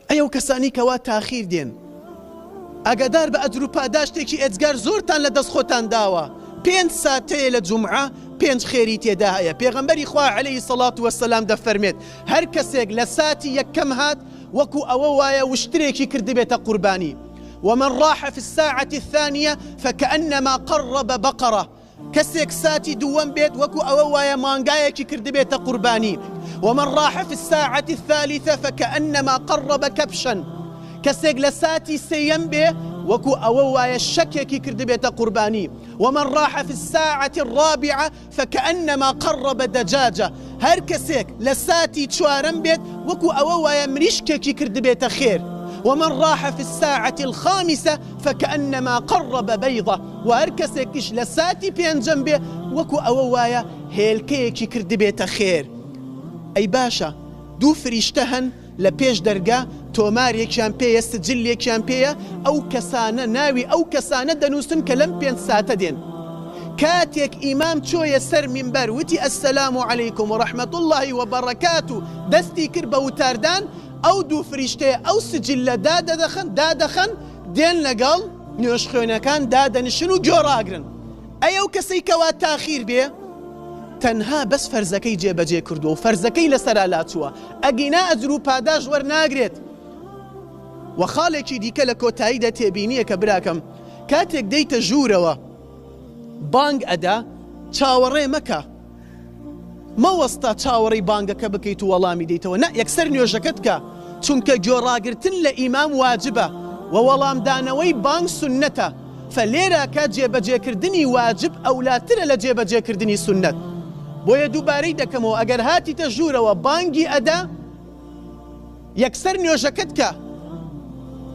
ئەی ئەو کەسانی کەوا تاخیر دێن ئاگادار بە ئەجر و پاداشتێکی ئێجگار زۆرتان لە دەست خۆتان داوە پێنج ساتەیە لە جمعە پێنج خێری تێدا هەیە پێغەمبەری خوا عليهەی سەڵات وەسەلام دەفەرمێت هەر کەسێک لە ساتی یەکەم هات وەکو ئەوە وایە وشترێکی کردبێتە قوربانی ومن راح في الساعة الثانية فكأنما قرب بقرة کەسێک ساتی دووەم بێت وەکو ئەوە وایە مانگایەکی کردبێتە قوربانی، ومن راح فی الساعە الثالثە فکانما قرب کبشا، کەسێک لە ساتی سێیەم بێ وەکو ئەوە وایە شەکێکی کردبێتە قوربانی، ومن راح فی الساعە الرابعە فکانما قرب دجاجە، هەر کەسێک لە ساتی چوارەم بێت وەکو ئەوە وایە مریشکێکی کردبێتە خێر، ومن راح فی الساعە الخامسە، فکأنما قرب بیضە، وە هەر کەسێکیش لە ساتی پێنجەم بێ وەکو ئەوە وایە هێلکەیەکی کردبێتە خێر. ئەی باشە دوو فریشتە هەن لە پێش دەرگا تۆمارێکیان پێیە سجلێکیان پێیە ئەو کەسانە ناوی ئەو کەسانە دەنووسن کە لەم پێنج ساتە دێن کاتێک ئیمام چۆیە سەر مینبەر وتی السلام علیکم و رحمتاللە و برکاته دەستی کرد بە وتاردان ئەو دوو فریشتەیە ئەو سجلە دادەدەخەن، دادەخەن، دێن لەگەڵ نوێژخوێنەکان دادەنشن و گوێ ڕاگرن. ئەی ئەو کەسەی کەوا تاخیر بێ تەنها بەس فەرزەکەی جێ بەجێ کردووە و فەرزەکەی لەسەرا لاچووە ئەگینا ئەجر و پاداشت وەرناگرێت. وە خاڵێکی دیکە لە کۆتاییدا تێبینیەکە براکەم کاتێک دێیتە ژوورەوە بانگ ئەدا چاوەڕێ مەکە، مەوەستە چاوەڕێی بانگەکە بکەیت و وەڵامی دەیتەوە نا یەکسەر نوێژەکەت کە چونکە گۆڕاگرتن لە ئیمام واجبە و وەڵامدانەوەی بانگ سنەتە فەلێرا کە جێبەجێکردنی واجب ئەولاترە لە جێبەجێکردنی سنەت بۆیە دووبارەی دەکەمەوە ئەگەر هاتیتە ژوورەوە بانگی ئەدا یەکسەر نوێژەکەت کە.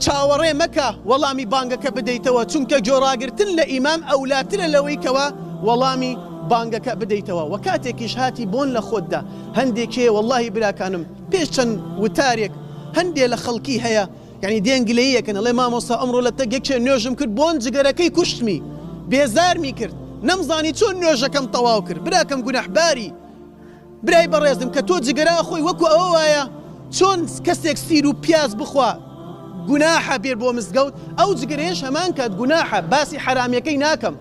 چاوەڕێ مەکە وەڵامی بانگەکە بدەیتەوە، چونکە گۆڕاگرتن لە ئیمام ئەولاترە لەوەی کەوا وەڵامی بانگەکە بدەیتەوە، وە کاتێکیش هاتی بۆن لە خۆتدا هەندێک هەیە وەڵاهی براکانم پێش چەند وتارێک هەندێ لە خەڵکی هەیە یەعنی دێن گلەیی ئەکەن ئەڵێ مامۆستا ئەمڕۆ لە تەک یەکێ نوێژم کرد بۆن جگەرەکەی کوشتمی بێزارمی کرد نەمزانی چۆن نوێژەکەم تەواو کرد براکەم گوناحباری برای بەڕێزم کە تۆ جگەرە ئەخۆی وەکو ئەوە وایە چۆن کەسێک سیر و پیاز بخوا گوناحە بێ بۆ مزگەوت ئەو جگەرەیەش هەمان کات گوناحە باسی حەرامیەکەی ناکەم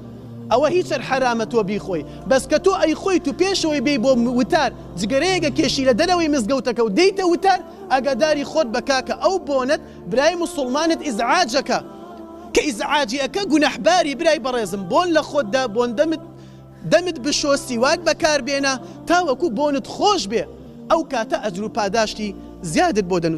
ئەوە هیچەر حەرامە تۆ بیخۆی بەس کە تۆ ئەی خۆی تو پێشەوەی بێ بۆ وتار جگەرەیەگە کێشی لە دەرەوەی مزگەوتەکە و دەیتە وتار ئەگاداری خۆت بە کاکە ئەو بۆنەت برای مسوڵمانت ئیزعاجەکە کە ئیزعاجی ئەکە گوناحباری برای بەڕێزم بۆن لە خۆتدا بۆن دەمت دەمت بشۆ سیواک بەکاربێنە تاوەکو بۆنت خۆش بێ ئەو کاتە ئەجرو پاداشتی زیادت بۆ دەنوسم.